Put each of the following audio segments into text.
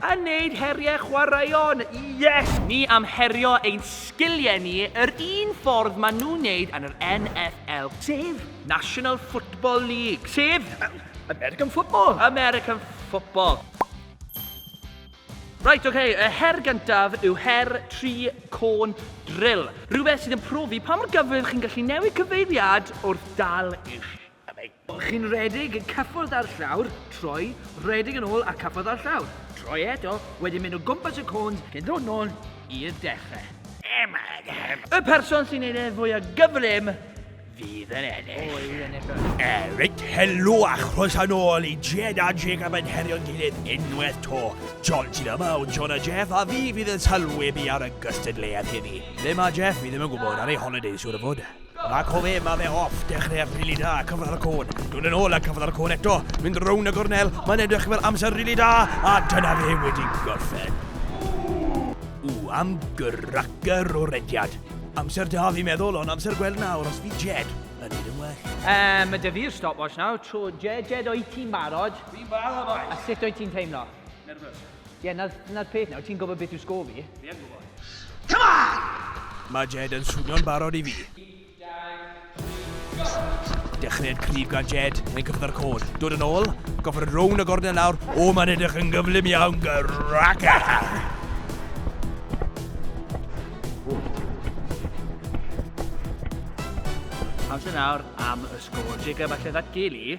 A neud heriau chwaraeon, yes! Ni am herio ein sgiliau ni yr un ffordd ma nhw'n neud yn yr NFL, sef National Football League, sef American Football! American Football! Right, ok, y her gyntaf yw her tri côn drill. Rhywbeth sydd yn profi pa mor gyflym chi'n gallu newid cyfeiriad wrth dal eich Chi'n rhedeg yn cyffwrdd â'r llawr, troi, rhedeg yn ôl a cyffwrdd â'r llawr. Troi eto, wedyn mynd o gwmpas y côns cyn dod nôl i'r dechrau. Y person sy'n neud e'n fwya gyflym fydd yn ennill. O, yw'n ennill. Reit, helo a chroeso nôl i Jed a Jacob yn herio'n gilydd unwaith to. John sydd yma o John a Jeff a fi fydd yn sylwebu ar y gystadleuaeth heddi. Ble mae Jeff? Fi ddim yn gwybod, ar ei holidays siwr o fod. Ac o fe, mae fe off, dechreuad rili da, cyfradd y côn, dod yn ôl a cyfradd y côn eto, mynd rown y gornel, mae'n edrych fel amser rili da, a dyna fe wedi gorffen. Ww, am gyracer o rediad. Amser da fi meddwl, ond amser gweld nawr os bydd Jed yn neud yn well. Um, mae dy fi'r stopwatch nawr, tro Jed, Jed, o'i ti'n barod? Fi'n barod, oes. A sut o'i ti'n teimlo? Nervous. Ie, yeah, na'r peth nawr, ti'n gwybod beth yw sgôr fi? Fi yn gwybod. Come on! Mae Jed yn swnio'n barod i fi. Dechreuad cryf gan Jed, mae'n cyrraedd ar y cod. Dod yn ôl, gorffen yn rownd y gornel nawr. O, mae'n edrych yn gyflym iawn, Graca! Amser nawr am y sgôr. Jacob, allai ddatgelu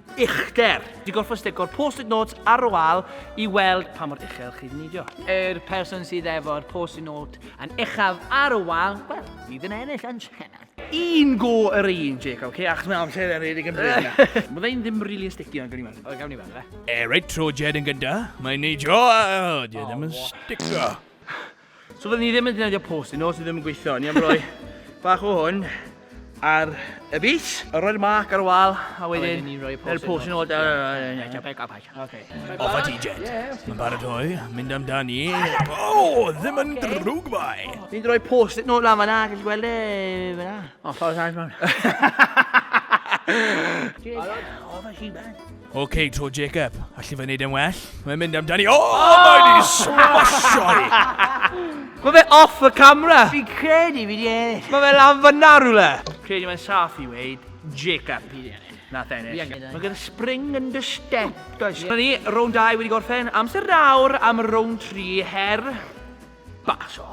uchder. Digolfwch sticwr post-it notes ar y wal i weld pa mor uchel chi'n neidio. Yr person sydd efo'r post-it note yn uchaf ar y wal, wel, bydd yn ennill yn siarad. Un go yr un, Jacob, okay? achos mae amser yn redig yn bryd na. Mae fe'n ddim rili yn sticio, gawn ni weld. O, gawn ni weld, fe. E, reit, tro Jed yn gynta. Mae'n neidio, a, o, Jed ddim yn sticio. So fydden ni ddim yn defnyddio post i nos sydd ddim yn gweithio. Ni am roi bach o hwn ar y bys. A roi'r marc ar y wal, a wedyn ni'n rhoi post yn post yn ôl. Off a t-jet. Mae'n baratoi, mynd amdani. O, ddim yn drwg fai. Ni'n rhoi post yn ôl lan fanna, gallu gweld e fanna. O, ffordd sa'n ffordd. Off a t-jet. OK, to Jacob. Allu fe wneud yn well? Mae'n mynd amdani. O, oh! oh! mae wedi swasio i! Mae fe off y camera. Fi credu fi di ennill. Mae fe lan fyna rhywle. Credu mae'n saff i weid. Jacob i di ennill. Na ennill. Mae gen spring yn dy step, does? Yeah. Ni, rown 2 wedi gorffen. Amser nawr am rown 3 her. Basio.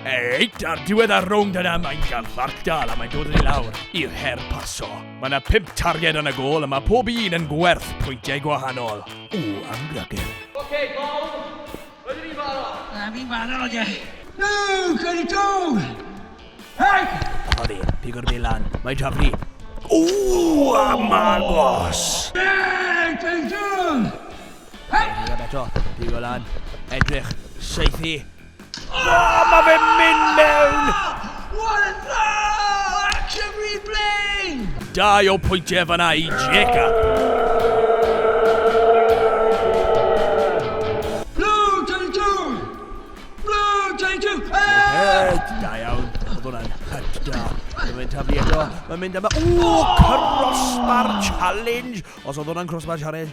Reit, ar diwedd ar rownd yna mae'n gan Lardal a mae'n dod yn ei lawr i'r her paso. Mae yna pimp targed yn y gol a mae pob un yn gwerth pwyntiau gwahanol. O, am gragel. Oce, okay, gol. Rydyn ni'n barod. Na, fi'n barod, ie. No, can it go? Hei! Mae fe, pigo'r bel lan. Mae Jafri. O, am agos. Hei, can it go? Edrych am eto, pigo lan, edrych, seithi. O, mae fe'n mynd mewn! What a throw! Action replay! Dau o pwyntiau fanna i Jacob. taflu eto. Mae'n mynd yma. Ww, crossbar challenge! Os oedd hwnna'n crossbar challenge,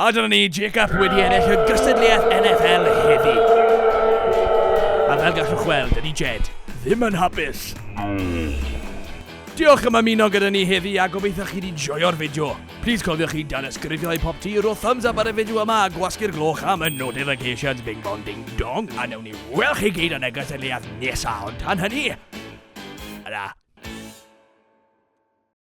A dyna ni, JCAP wedi ennill y gystadleuaeth NFL heddi. A fel gallwch weld, ydy Jed ddim yn hapus. Diolch am ymuno gyda ni heddi a gobeithio chi wedi joio'r fideo. Please cofiwch chi dan ysgrifio i pop ti, rho thumbs up ar y fideo yma a gwasgu'r gloch am y notifications bing bong ding dong a newn ni weld chi gyd yn y gystadleuaeth nesaf ond tan hynny. Yna.